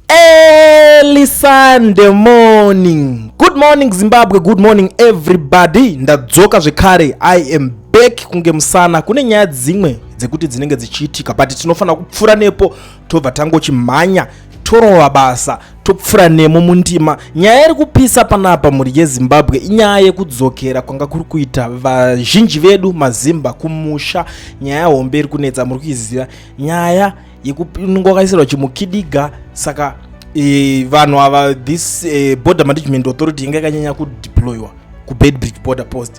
Early Sunday morning. Good morning Zimbabwe, good morning everybody. Ndadzoka zvekare. I am back kunge musana. Kune nyaya dzimwe dzekuti dzinenge dzichiitika but tinofanira kupfura nepo tobva tangochimhanya torova basa topfura nemo mundima nyaya iri kupisa panapa mhuri yezimbabwe inyaya yekudzokera kwanga kuri kuita vazhinji vedu mazimba kumusha nyaya hombe iri kunetsa muri kuiziva nyaya yekunonga wakaisirwa chimukidiga saka e, vanhu ava this e, border management authority inga ikanyanya kudeployiwa kubedbridge border post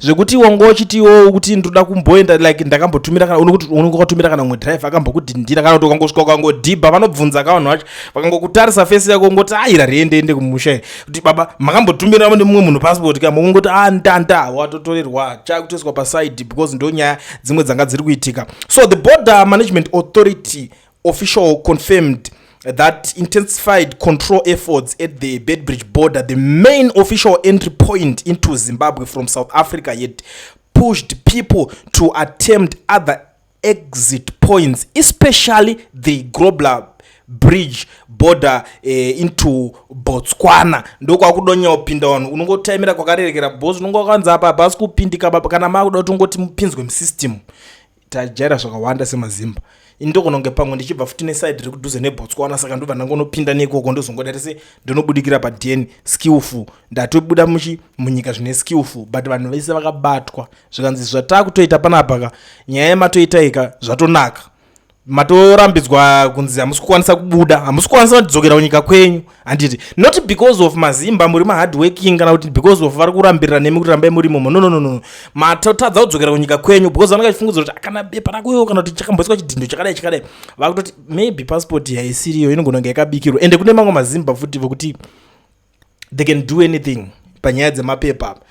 zvekuti wanga uchitiwo kuti ndoda kumboenda like ndakambotumira kana unokuti unenge wakatumira kana mumwe drive akambokudhindira kana kuti ukangosvika ukangodhibha vanobvunza ka vanhu vacho vakangokutarisa fesi yako ungoti aira ah, riende ende kumusha kuti baba makambotumira nemumwe munhu passport ka mukungoti a ah, ndanda watotorerwa chakutoiswa pasaidi because ndonyaya dzimwe dzanga dziri kuitika so the border management authority Official confirmed that intensified control efforts at the Bedbridge border, the main official entry point into Zimbabwe from South Africa, yet pushed people to attempt other exit points, especially the Grobler bridge border eh, into botswana ndokwakudonyawo wapinda vanhu unongotaimira kwakarerekera bos unonga wakanzi apa hapasi kupindika kana makuda kuti ungoti mupinzwe musystem tajaira zvakawanda semazimba ini ndogona kunge pamwe ndichibva futi neside riri kudhuze nebotswana saka ndobva ndangonopinda neikoko ndozongoda tese ndonobudikira padn skillful ndatobuda muchi munyika zvine skillful but vanhu vese vakabatwa zvikanzi zvataa kutoita panapaka nyaya yematoitaika zvatonaka matorambidzwa kunzi hamusi kukwanisa kubuda hamusi kukwanisa kutidzokera kunyika kwenyu handiti not because of mazimba muri mahardworking kana kuti because of vari kurambirira nemi kuti rambai muri momo nononono matotadza kudzokera kunyika kwenyu because vanenge vachifungudzira kuti akana bepa rakuyo kana kuti chakamboiswa chidhindo chakadai chakadai vakutoti maybe passport yaisiriyo inogona kunge yakabikirwa ende kune mamwe mazimba futi vokuti they can do anything panyaya dzemapepa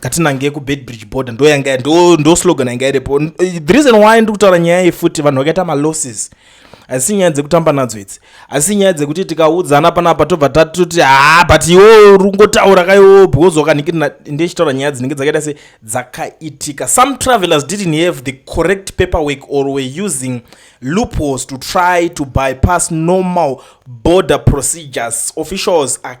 ngatinange kubeadbridge border ndo yanga ndo, ndo slogan yanga iripo the reason why ndiri kutaura nyaya iyi futi vanhu vakaita malosses asi nyaya dzekutamba nadzo idzi asi nyaya dzekuti tikaudzana panapa tobva tatoti haa but iwo rungotaura kaiwo because wakanhikirina ndechitaura nyaya dzinenge dzakaita se dzakaitika some travelers didn't have the correct paper work or were using loopholes to try to bypass normal border procedures officials are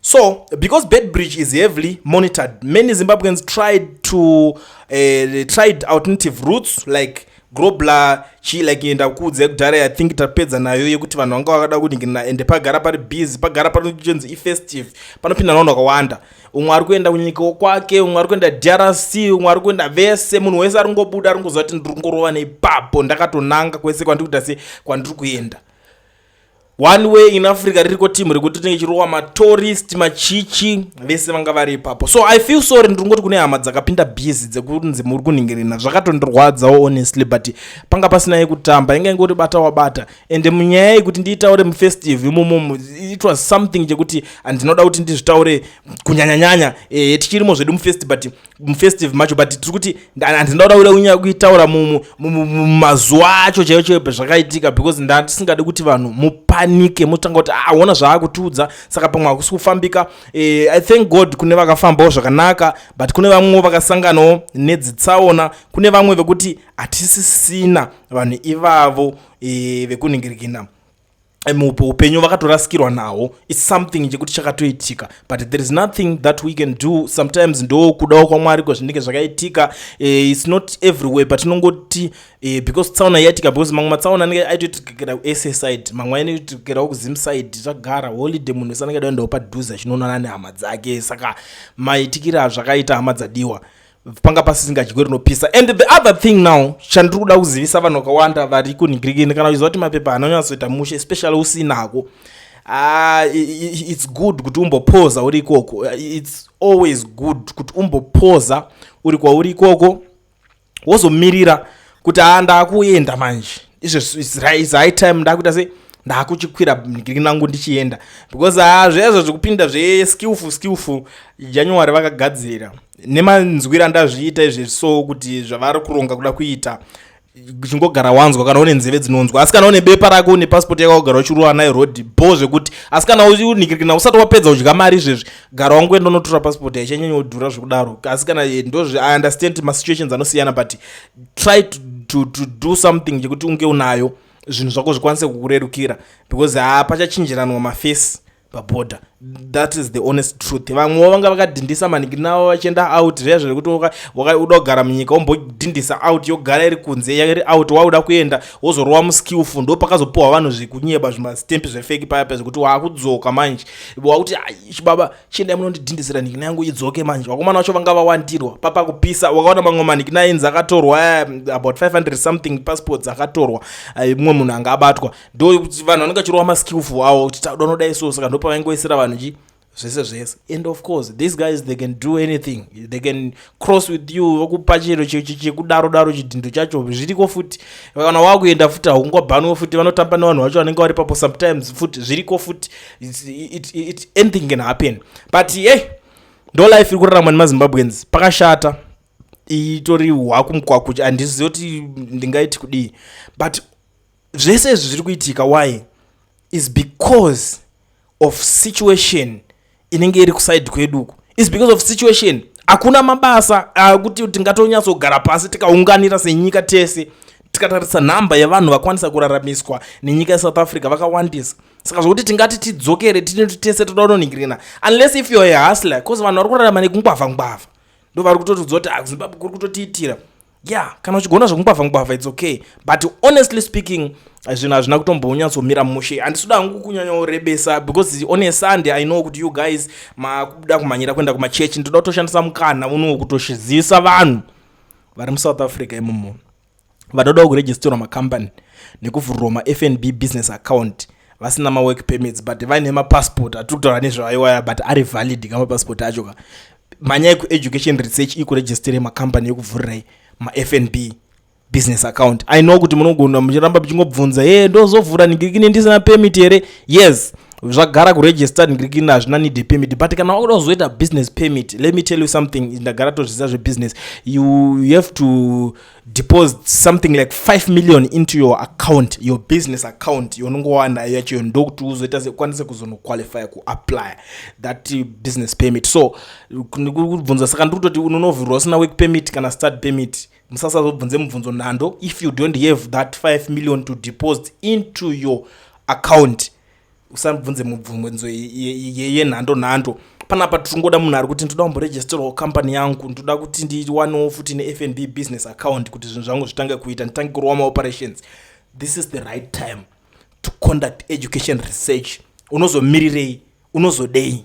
So, because Beitbridge is heavily monitored, many Zimbabweans tried to uh, tried alternative routes like grobla chi like enda kuudza yekudhara i think tapedza nayo yekuti vanhu vanga vakada kuningirina ende pagara pari busy pagara panochinzi ifestive panopinda navanhu vakawanda umwe ari kuenda kunyika wokwake umwe ari kuenda drc umwe ari kuenda vese munhu wese ari kungobuda ari kungoziva kuti ndiri kungorova neipapo ndakatonanga kwese kwandiri kuita se kwandiri kuenda one way in africa ririko team rekuti tinenge chirowa matourist machichi vese vanga vari ipapo so i feel sorry ndiri kungoti kune hama dzakapinda busy dzekunzi muri kunhingirina zvakatondirwadzawo honestly but panga pasina yekutamba inga ingoti bata wabata and munyaya yekuti ndiitaure mufestive imomomo it was something chekuti andinoda kuti ndizvitaure kunyanyanyanya e, tichirimo zvedu mufesti but mufestive macho but tiri kuti handina kuda kuda kunyaya kuitaura mumazuva acho chaiyo chaiyo pezvakaitika because ndatisingadi kuti vanhu mupanike motanga kuti aona ah, zvaakutiudza saka pamwe hakusi kufambika eh, i thank god kune vakafambawo zvakanaka but kune vamwewo vakasanganawo nedzitsaona kune vamwe vekuti hatisisina vanhu ivavo eh, vekuningirikina upenyu vakatorasikirwa nawo its something chekuti chakatoitika but there is nothing that we can do sometimes ndo kudawo kwamwari kwezvinenge zvakaitika uh, its not everywhere but tinongoti uh, because tsaona yaitika because mamwe matsaona anenge aitoitikira kusa side mamwe ainoitikirawo kuzim side zvagara holiday munhu wese anenge daendawo padhuze achinoonana nehama dzake saka maitikira zvakaita hama dzadiwa panga pasisingadyiwe rinopisa and the other thing now chandiri kuda kuzivisa vanhu vakawanda vari kunhingirikini kana uchiziva kuti mapepa anonyatsoita mushe especially usinako uh, ah, its good kuti umbopoza uri ikoko its always good kuti umbopoza uri kwauri ikoko wozomirira kuti haa ah, ndaakuenda manje izvo high time ndaakuita sei ndakuchikwira bhingiri nangu ndichienda because haa ah, zvezvo zvekupinda zveskillful skillful january vakagadzira nemanzwira ndazviita izvi so kuti zvavari kuronga kuda kuita chingogara wanzwa kana une nzeve dzinonzwa asi kana une bepa rako une pasipoti yako gara uchirova nayo rod bo zvekuti asi kana unikirikina usati wapedza kudya mari izvezvi gara wangu enda unotora pasipoti haichanyanya kudhura zvekudaro asi kana eh, ndozvi i understand masituations anosiyana but try to, to, to do something chekuti unge unayo zvinhu zvako zvikwanise kukurerukira because hapachachinjiranwa mafesi paborder that is the honest truth vamwewo vanga vakadhindisa maningi navo vachienda out zviya zvekuti uda kugara munyika wombodhindisa out yogara iri kunze iri out wauda kuenda wozorova muskillful ndo pakazopiwa vanhu zvekunyeba zvimastempi zvefeki paya paya zvekuti waakudzoka manje wakuti chibaba chiendai munondidhindisira nikina yangu idzoke manje vakomana vacho vanga vawandirwa papa kupisa wakaona mamwe manikina ainzi akatorwa eh, about 500 something passports akatorwa eh, mumwe munhu anga abatwa ndokuti vanhu vanenge vachirova maskillful awo kuti tauda unodai so saka ndopavaingoisira vanhu chi zvese zvese and of course these guys they can do anything they can cross with you vakupa chero chekudaro daro chidhindo chacho zviriko futi kana wakuenda futi haungobhanwe futi vanotamba nevanhu vacho vanenge vari papo sometimes futi zviriko futi anything can happen but hey ndo life iri kuraramwa nemazimbabweans pakashata itori hwakumkwakucha handizivi kuti ndingaiti kudii but zvese izvi zviri kuitika why is because of situation inenge iri kuside kwedu uku is because of situation hakuna mabasa akuti ah, tingatonyatsogara pasi tikaunganira senyika tese tikatarisa nhamba yevanhu vakwanisa kuraramiswa nenyika yesouth africa vakawandisa saka zvokuti tingati tidzokere tinoti tese toda kunoningirina unless if youare ahustler bcause vanhu vari kurarama nekungwavha ngwavha ndo vari kutotidza kuti ah, zimbabwe kuri kutotiitira yeah kana uchigona zvekungwavha ngwavha its okay but honestly speaking zvinhu hazvina kutombonyatsomira mushe handisuda hangu kunyanyorebesa because on a sunday i know kuti you guys makuda kumhanyira kuenda kumachechi ndoda kutoshandisa mukana unowo kutoshizisa vanhu vari musouth africa imomo vanodawo kuregisterwa macompany nekuvhurwa mafnb business account vasina mawork permits but vaine mapassport atiri kutaura nezvavaiwaya but ari valid ka mapassport acho ka manyai kueducation research ikuregistire macompany yekuvhurirai mafnb business account i know kuti munogona muchiramba muchingobvunza ye ndozovhura nigirikini ndisina permit here yes zvagara kuregister nigirikini hazvina need yepermit but kana wakuda kuzoita business permit let me tell you something ndagara tozviziva zvebusiness you, you have to deposit something like 5 million into your account your business account yonongo wanayo yacho ndokuti uzoita sekwanise kuzonoqualifya kuapply that uh, business permit so kubvunza saka ndiri kutoti unonovhirwa usina work permit kana start permit musasazobvunze mubvunzo nhando if you don't have that 5 million to deposit into your account usabvunze mubvunzo yenhando nhando panapa tiringoda munhu ari kuti ndoda kumboregisterwawo company yangu ndoda kuti ndiwanewo futi nefnb business account kuti zvinhu zvangu zvitange kuita nditange kurowa maoperations this is the right time to conduct education research unozomirirei unozodei